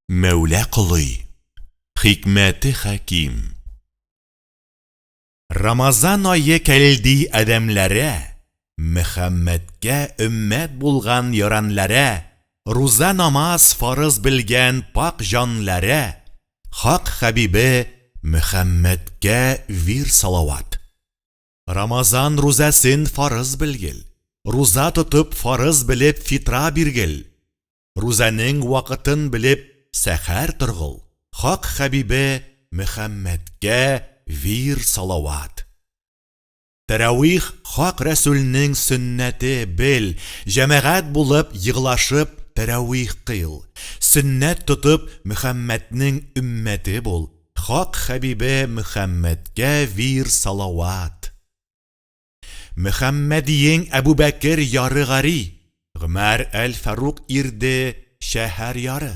Мәүлә Колый, хикмәте хәким. Рамазан ае кәлди адәмләрә, Мөхәммәдкә өммәт булган яранләрә, Руза намаз фарыз белгән пакь җанләрә, Хак хәбибе Мөхәммәдкә вир салават. Рамазан рузәсен фарыз белгел, Руза тотып фарыз белеп фитра биргел. Рузанең вакытын белеп сәхәр торгыл, Хак Хәбибе Мөхәммәдкә вир салават. Тәравих Хак Рәсүлнең сөннәте бел, җәмәгать булып еглашып тәравих кыйл, сөннәт тотып Мөхәммәднең өммәте бул, Хак Хәбибе Мөхәммәдкә вир салават. Мөхәммәдиең Әбүбәкер яры гари, Гомәр әл-Фарук ирде шәһәр яры.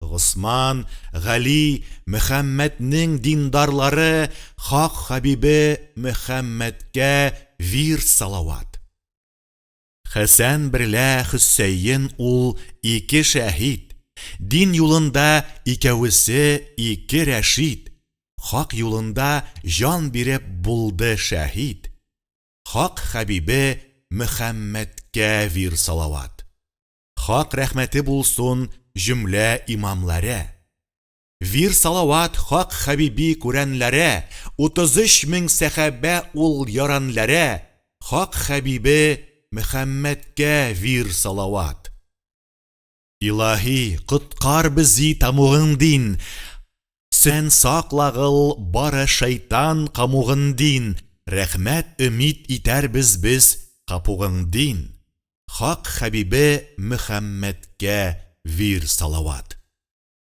Госман, Гали, Мөхәммәднең диндарлары Хак хәбибе Мөхәммәдкә вирд салават. Хәсән берлә Хөсәен ул ике шәһид, Дин юлында икәвесе ике рәшид, Хак юлында җан биреп булды шәһид, Хак хәбибе Мөхәммәдкә вир салават. Хак рәхмәте булсун җөмлә имамларә. Вир салават хак хәбиби күрәнләрә, Утыз өч мең сәхәбә ул яранләрә, Хак хәбибе Мөхәммәдкә вир салават. Илаһи, коткар бези тамугын дин, Сен саклагыл бары шайтан камугын дин, Рәхмәт өмид итәрбез без капугың дин, Хак хәбибе Мөхәммәдкә вир салават.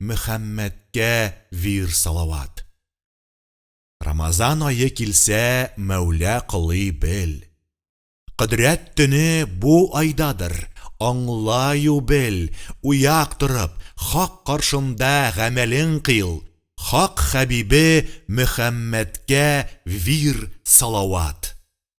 Мөхәммәдкә вир салават. Рамазан ае килсә Мәүлә кылый бел. Кодрәт төне бу айдадыр, аңлаю бел, уяк торып, хак каршында гамәлең кыйл, хак хәбибе Мөхәммәдкә вир салават.